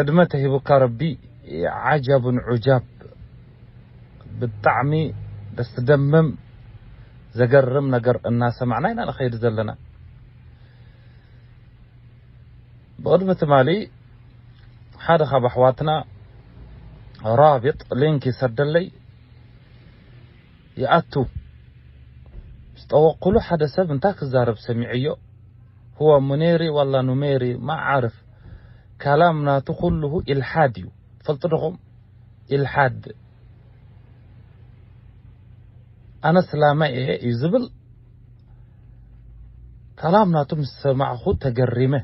ዕድመ ተሂቡካ ረቢ ዓጃብን ዑጃብ ብጣዕሚ ደስደምም ዘገርም ነገር እናሰማዕና ኢና ንኸይድ ዘለና ብቕድሚ ትማሊ ሓደ ካብ ኣሕዋትና ራብጥ ሊንክ ይሰደለይ ይኣቱ ምስ ጠወቅኩሉ ሓደ ሰብ እንታይ ክዛረብ ሰሚዐዮ ሁወ ሙኔሪ ዋላ ኑሜሪ ማዓርፍ ካላም ናቱ ኩሉሁ ኢልሓድ እዩ ትፈልጡ ዶኹም ኢልሓድ ኣነ ስላማይ እየ እዩ ዝብል ካላም ናቱ ምስ ሰማዕኹ ተገሪመ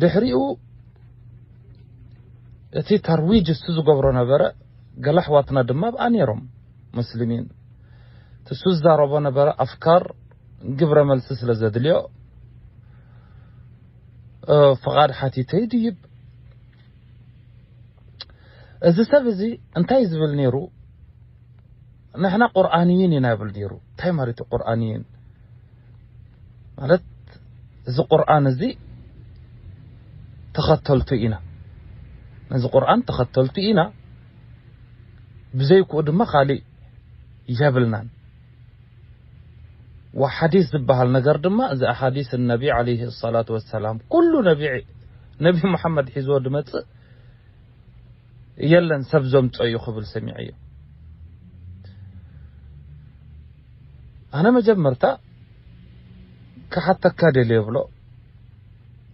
ድሕሪኡ እቲ ታርዊጅ እሱ ዝገብሮ ነበረ ገለ ኣሕዋትና ድማ ኣብኣ ነይሮም ሙስሊሚን እሱ ዝዛረቦ ነበረ ኣፍካር ግብረ መልሲ ስለ ዘድልዮ ፍቓድ ሓቲተ ይድይብ እዚ ሰብ እዚ እንታይ ዝብል ነይሩ ንሕና ቁርኣንይን ኢና ይብል ነይሩ እንታይ ማለት እዩ ቁርኣንይን ማለት እዚ ቁርኣን እዚ ተኸተልቱ ኢና ነዚ ቁርኣን ተኸተልቱ ኢና ብዘይክኡ ድማ ካሊእ የብልናን ወሓዲስ ዝብሃል ነገር ድማ እዚ ኣሓዲስ ነቢ ዓለይሂ ሰላቱ ወሰላም ኩሉ ነቢ ነቢ ሙሓመድ ሒዝዎ ዝመጽእ የለን ሰብ ዘምጾ እዩ ክብል ሰሚዐዮ ኣነ መጀመርታ ክሓተካ ደልየ ብሎ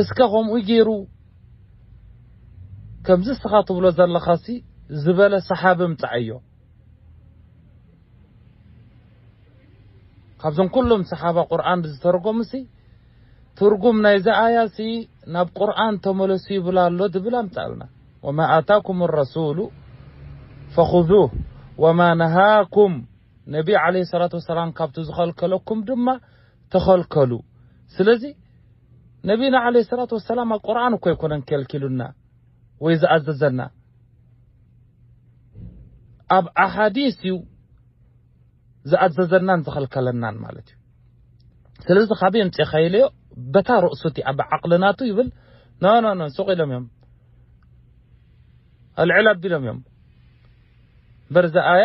እስከ ከምኡ ጌሩ ከምዚ እስኻ ትብሎ ዘለኻሲ ዝበለ ሰሓቢ ምጻኣዮ ካብዞም ኩሎም ሰሓባ ቁርኣን ዝተርጎምሲ ትርጉም ናይዚ ኣያሲ ናብ ቁርኣን ተመለሱ ይብል ኣሎ ዝብል ኣምጻእልና ወማ ኣታኩም ረሱሉ ፈኹዙህ ወማ ነሃኩም ነቢ ዓለይሂ ሰላቱ ወሰላም ካብቲ ዝኸልከለኩም ድማ ተኸልከሉ ስለዚ ነቢና ዓለይሂ ሰላቱ ወሰላም ኣብ ቁርኣን እኮ ኣይኮነን ከልኪሉና ወይ ዝኣዘዘና ኣብ ኣሓዲስ እዩ ዝኣዘዘናን ዝኸልከለናን ማለት እዩ ስለዚ ካበይ ኣምፂእኻ ኢለዮ በታ ርእሱ እቲኣ ብዓቕሊ ናቱ ይብል ኖ ኖ ኖ ሱቕ ኢሎም እዮም ኣልዕል ኣቢሎም እዮም በርዚ ኣያ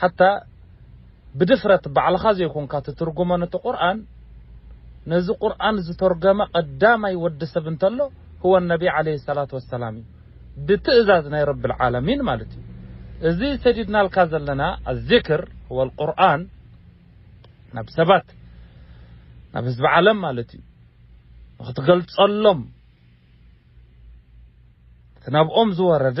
ሓታ ብድፍረት ባዕልኻ ዘይኮንካ ትትርጉሞ ነቲ ቁርኣን ነዚ ቁርኣን ዝተርገመ ቀዳማይ ወዲ ሰብ እንተሎ ሁወ ነቢ ዓለይሂ ሰላት ወሰላም እዩ ብትእዛዝ ናይ ረብል ዓለሚን ማለት እዩ እዚ ሰዲድናልካ ዘለና ኣዚክር ሁወል ቁርኣን ናብ ሰባት ናብ ህዝቢ ዓለም ማለት እዩ ንክትገልጸሎም እቲ ናብኦም ዝወረደ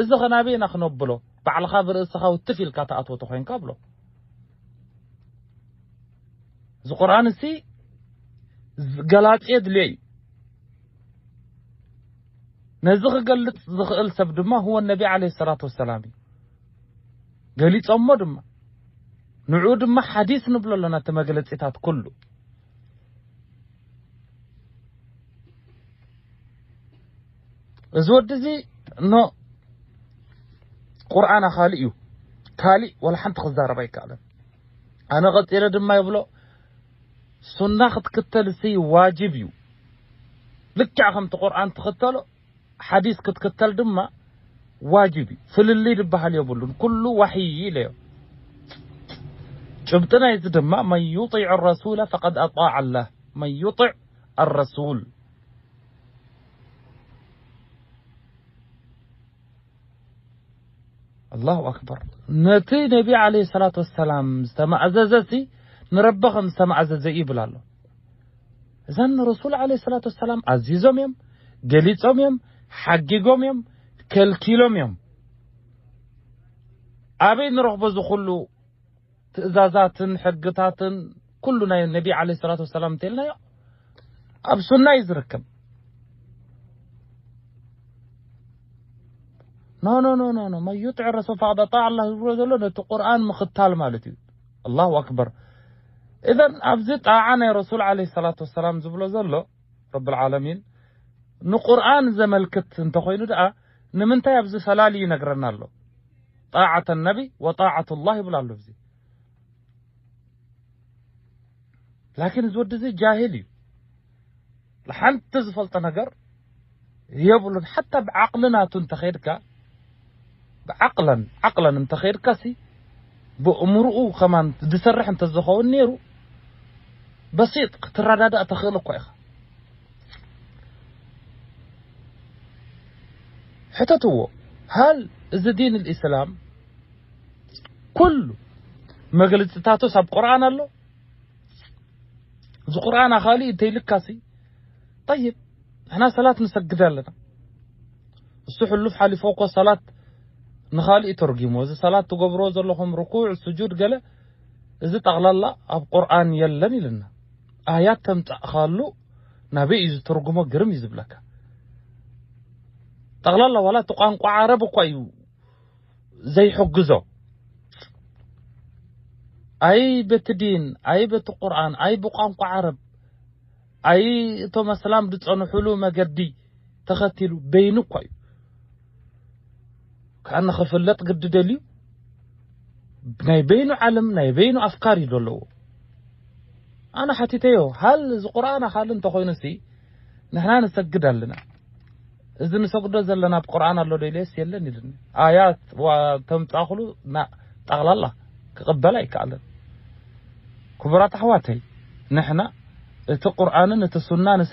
እዚ ከ ናበይ ኢና ክነብሎ ባዕልካ ብርእስካ ውትፍ ኢልካ ትኣትዎ ተኮይንካ ብሎ እዚ ቁርኣን እዚ ገላጺ የድልዮ እዩ ነዚ ክገልጽ ዝኽእል ሰብ ድማ ህወ ነቢ ዓለይሂ ሰላቱ ወሰላም እዩ ገሊጾሞ ድማ ንዑ ድማ ሓዲስ ንብሎ ኣለና እቲ መግለጺታት ኩሉ እዚ ወዲ እዚ ን ቁርኣን ኣኻሊ እዩ ካሊእ ዋላ ሓንቲ ክዛረብ ኣይከኣለን ኣነ ቀጺለ ድማ ይብሎ ሱና ክትክተል ሲ ዋጅብ እዩ ልክዕ ከምቲ ቁርኣን ትኽተሎ ሓዲስ ክትክተል ድማ ዋጅብ እዩ ፍልልይ ዝበሃል የብሉን ኩሉ ዋሕይ ኢለዮ ጭብጢ ናይዚ ድማ መን ዩጢዕ ረሱለ ፈቀድ ኣጣዕ ኣላህ መን ዩጢዕ ኣረሱል ኣላሁ ኣክበር ነቲ ነቢ ዓለ ሰላት ወሰላም ዝተማእዘዘ ሲ ንረቢ ከም ዝተማእዘዘ እዩ ይብል ኣሎ እዛ ንረሱል ዓለ ሰላት ወሰላም ኣዚዞም እዮም ገሊፆም እዮም ሓጊጎም እዮም ከልኪሎም እዮም ኣበይ ንረኽቦ ዝኹሉ ትእዛዛትን ሕግታትን ኩሉ ናይ ነቢ ዓለይሂ ሰላቱ ወሰላም እንተልናዮ ኣብ ሱና እዩ ዝርከብ። ኖ ኖ ኖ ኖ ኖ መን ዩጥዕ ረሱል ፈቐድ ኣጣዕ ኣላህ ዝብሎ ዘሎ ነቲ ቁርኣን ምኽታል ማለት እዩ። ኣላሁ ኣክበር። እዘን ኣብዚ ጣዓ ናይ ረሱል ዓለይሂ ሰላቱ ወሰላም ዝብሎ ዘሎ ረብል ዓለሚን ንቁርኣን ዘመልክት እንተኾይኑ ደኣ ንምንታይ ኣብዚ ፈላሊ ይነግረና ኣሎ? ጣዓተ ነቢ ወጣዓቱላህ ይብል ኣሎ ኣብዚ ላኪን እዚ ወዲ እዚ ጃሂል እዩ ሓንቲ ዝፈልጦ ነገር የብሉን ሓታ ብዓቕሊ ናቱ እንተኸይድካ ብዓቕለን ዓቕለን እንተኸይድካሲ ብእምርኡ ከማን ዝሰርሕ እንተዝኸውን ነይሩ በሲጥ ክትረዳዳእ ተኽእል እኳ ኢኻ ሕተትዎ ሃል እዚ ዲን ኣልእስላም ኩሉ መግልጽታቶስ ኣብ ቁርኣን ኣሎ እዚ ቁርኣን ኣኻሊ እንተይልካሲ ጠይብ ንሕና ሰላት ንሰግድ ኣለና እሱ ሕሉፍ ሓሊፎ እኮ ሰላት ንኻሊእ ተርጊሞ እዚ ሰላት ትገብሮ ዘለኹም ርኩዕ ስጁድ ገለ እዚ ጠቕላላ ኣብ ቁርኣን የለን ኢልና ኣያት ተምጻእኻሉ ናበይ እዩ ዝትርጉሞ ግርም እዩ ዝብለካ ጠቕላላ ዋላ እቲ ቋንቋ ዓረብ እኳ እዩ ዘይሕግዞ ኣይ በቲ ዲን ኣይ በቲ ቁርኣን ኣይ ብቋንቋ ዓረብ ኣይ እቶም ኣስላም ዝጸንሑሉ መገዲ ተኸቲሉ በይኑ እኳ እዩ ከዓ ንኽፍለጥ ግዲ ደልዩ ናይ በይኑ ዓለም ናይ በይኑ ኣፍካር እዩ ዘለዎ ኣነ ሓቲተዮ ሃል እዚ ቁርኣን ኣኻል እንተኾይኑሲ ንሕና ንሰግድ ኣለና እዚ ንሰግዶ ዘለና ኣብ ቁርኣን ኣሎ ዶ ኢለስ የለን ኢሉኒ ኣያት ተምፃእኽሉ ጠቕላላ ክቕበል ኣይከኣለን ክቡራት ኣሕዋተይ ንሕና እቲ ቁርኣንን እቲ ሱናንሲ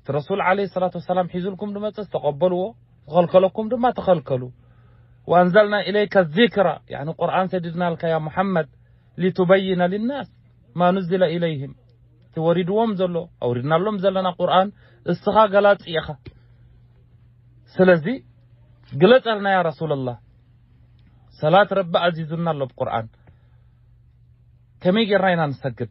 እቲ ረሱል ዓለይሂ ሰላቱ ወሰላም ሒዙልኩም ዝመጽእስ ተቐበልዎ፣ ዝኸልከለኩም ድማ ተኸልከሉ። ወኣንዘልና ኢለይከ ዚክራ ያኒ ቁርኣን ሰዲድናልካ ያ ሙሓመድ ሊቱበይነ ሊናስ ማ ኑዝለ ኢለይሂም እቲ ወሪድዎም ዘሎ ኣውሪድናሎም ዘለና ቁርኣን እስኻ ገላጺ ኢኻ ስለዚ ግለጸልና ያ ረሱለላህ ሰላት ረቢ ኣዚዙና ኣሎ ብ ቁርኣን ከመይ ጌርና ኢና ንሰግድ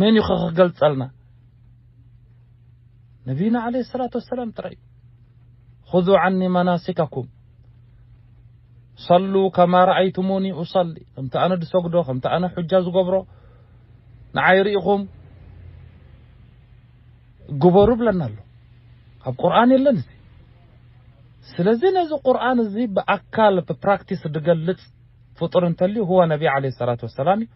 መን እዩ ከ ክገልጸልና ነቢና ዓለይሂ ሰላቱ ወሰላም ጥራይ እዩ ኹዙ ዓኒ መናሲከኩም ሰሉ ከማ ረኣይቱሙኒ ኡሰሊ ከምቲ ኣነ ዝሰግዶ ከምቲ ኣነ ሑጃ ዝገብሮ ንዓይ ርኢኹም ግበሩ ብለና ኣሎ ኣብ ቁርኣን የለን እዚ ስለዚ ነዚ ቁርኣን እዚ ብኣካል ብፕራክቲስ ዝገልጽ ፍጡር እንተልዩ ህወ ነቢ ዓለይሂ ሰላቱ ወሰላም እዩ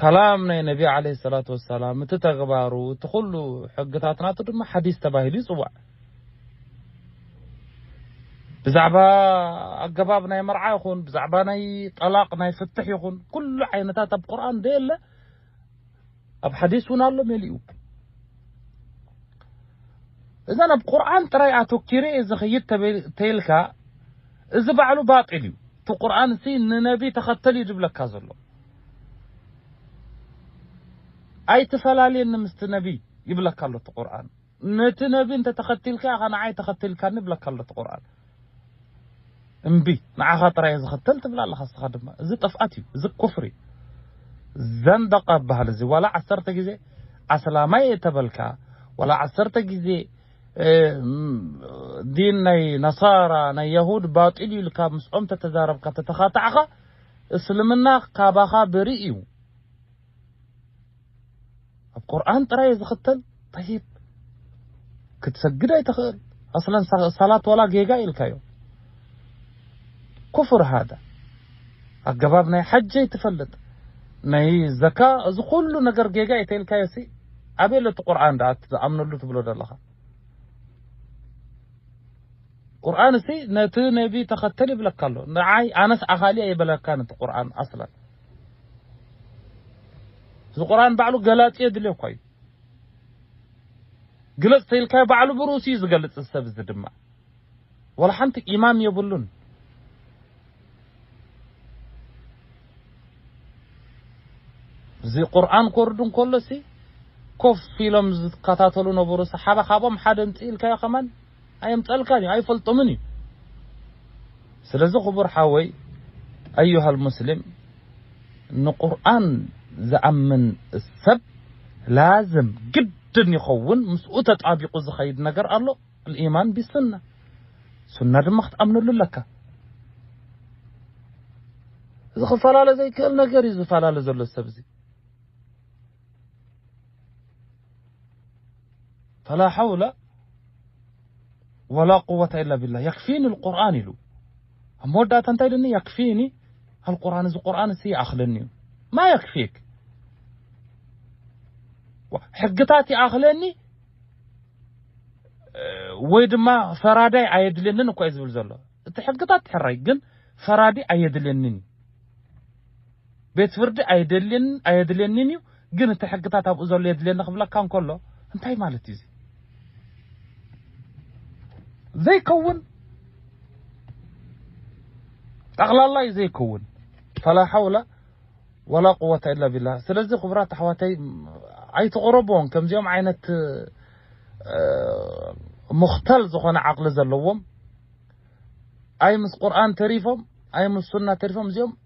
ካላም ናይ ነቢ ዓለይሂ ሰላቱ ወሰላም እቲ ተግባሩ እቲ ኩሉ ሕግታት ናቱ ድማ ሓዲስ ተባሂሉ ይጽዋዕ። ብዛዕባ ኣገባብ ናይ መርዓ ይኹን ብዛዕባ ናይ ጠላቕ ናይ ፍትሕ ይኹን ኩሉ ዓይነታት ኣብ ቁርኣን ዘየለ ኣብ ሓዲስ እውን ኣሎ መሊኡ እዘን ኣብ ቁርኣን ጥራይ ኣተኪረ እየ ዝኸይድ ተይልካ እዚ ባዕሉ ባጢል እዩ እቲ ቁርኣን እዚ ንነቢ ተኸተል እዩ ዝብለካ ዘሎ ኣይትፈላልየኒ ምስቲ ነቢ ይብለካ ኣሎ እቲ ቁርኣን ነቲ ነቢ እንተ ተኸቲልካ ኢኻ ንዓይ ተኸቲልካኒ ይብለካ ኣሎ እቲ ቁርኣን። እምቢ ንዓኻ ጥራይ እየ ዝኽተል ትብል ኣለኻ እስኻ ድማ። እዚ ጥፍኣት እዩ እዚ ኩፍሪ ዘንደቐ ይብሃል እዚ ዋላ ዓሰርተ ግዜ ኣስላማይ እየ ተበልካ ዋላ ዓሰርተ ግዜ ዲን ናይ ነሳራ ናይ የሁድ ባጢል እዩ ኢልካ ምስኦም ተተዛረብካ ተተኻታዕኻ እስልምና ካባኻ ብርእ እዩ። ኣብ ቁርኣን ጥራይ እየ ዝኽተል ጠይብ ክትሰግድ ኣይትኽእል ኣስለን ሰላት ዋላ ጌጋ ኢልካዮ ኩፍር ሃደ ኣገባብ ናይ ሓጅ ኣይትፈልጥ ናይ ዘካ እዚ ኩሉ ነገር ጌጋ እዩ ተኢልካዮ ሲ ኣበይ ለቲ ቁርኣን ደኣ ዝኣምነሉ ትብሎ ዘለኻ ቁርኣን ሲ ነቲ ነቢ ተኸተል ይብለካ ኣሎ ንዓይ ኣነስ ኣኻሊ ኣይበለካን እቲ ቁርኣን ኣስለን እዚ ቁርኣን ባዕሉ ገላጺ የድልዮ እኳ እዩ። ግለጽ ተኢልካዮ ባዕሉ ብርእሱ እዩ ዝገልጽ እዚ ሰብ እዚ ድማ ወላ ሓንቲ ኢማም የብሉን። እዚ ቁርኣን ክወርድ እንከሎሲ ኮፍ ኢሎም ዝከታተሉ ነበሩ ሰሓባ ካብኦም ሓደ እንጽ ኢልካዮ ከማን ኣየምጸልካን እዩ ኣይፈልጦምን እዩ ስለዚ ክቡር ሓወይ ኣዩሃል ሙስሊም ንቁርኣን ዝኣምን ሰብ ላዝም ግድን ይኸውን ምስኡ ተጣቢቁ ዝኸይድ ነገር ኣሎ ልኢማን ቢሱና ሱና ድማ ክትኣምነሉ ኣለካ እዚ ክፈላለ ዘይክእል ነገር እዩ ዝፈላለ ዘሎ ሰብዚ ፈላ ሓውለ ወላ ቁወተ ኢላ ቢላ የክፊኒ ልቁርን ኢሉ ኣብ መወዳእታ እንታይ ኢሉኒ የክፊኒ ኣልቁርን እዚ ቁርን እሲ ይኣኽለኒ እዩ ማ የክፊክ ሕግታት ይኣኽለኒ ወይ ድማ ፈራዳይ ኣየድልየንን እኳ እዩ ዝብል ዘሎ እቲ ሕግታት ሕራይ ግን ፈራዲ ኣየድልየንን እዩ ቤት ፍርዲ ኣየደልየንን ኣየድልየኒን እዩ ግን እቲ ሕግታት ኣብኡ ዘሎ የድልየኒ ክብለካ እንከሎ እንታይ ማለት እዩ እዚ ዘይከውን ጠቕላላ እዩ ዘይከውን ፈላ ሓውላ ወላ ቁወታ ኢላ ቢላ ስለዚ ክቡራት ኣሕዋተይ ኣይትቕረብዎም ከምዚኦም ዓይነት ሙኽተል ዝኾነ ዓቕሊ ዘለዎም ኣይ ምስ ቁርኣን ተሪፎም ኣይ ምስ ሱና ተሪፎም እዚኦም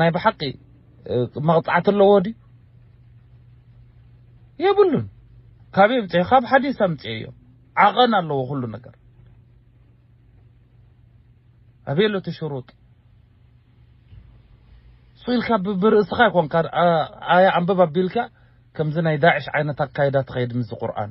ናይ ብሓቂ መቕጻዕቲ ኣለዎ ድዩ? የብሉን። ካብ የምጽኦ ካብ ሓዲስ ኣምጽኦዮ ዓቐን ኣለዎ ኩሉ ነገር ኣበየሎ እቲ ሽሩጥ እሱ ኢልካ ብርእስኻ ይኮንካ ኣያ ኣንብብ ኣቢልካ ከምዚ ናይ ዳዕሽ ዓይነት ኣካይዳ ትኸይድ ምስዚ ቁርኣን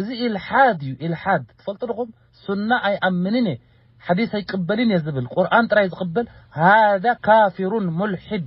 እዚ ኢልሓድ እዩ ኢልሓድ ትፈልጡ ድኹም ሱና ኣይኣምንን እየ ሓዲስ ኣይቅበልን እየ ዝብል ቁርኣን ጥራይ ዝቅበል ሃዛ ካፊሩን ሙልሒድ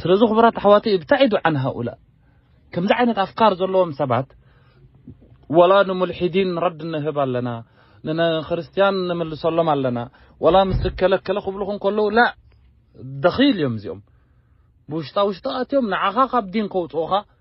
ስለዚ ክቡራት ኣሕዋተይ እብታዒዱ ዓን ሃኡላ ከምዚ ዓይነት ኣፍካር ዘለዎም ሰባት ወላ ንሙልሒዲን ረድ ንህብ ኣለና ንክርስትያን ንምልሰሎም ኣለና ወላ ምስ እከለ እከለ ክብሉኹ እንከለዉ ላእ ደኺል እዮም እዚኦም ብውሽጣ ውሽጢ ኣትዮም ንዓኻ ካብ ዲን ከውጽኡኻ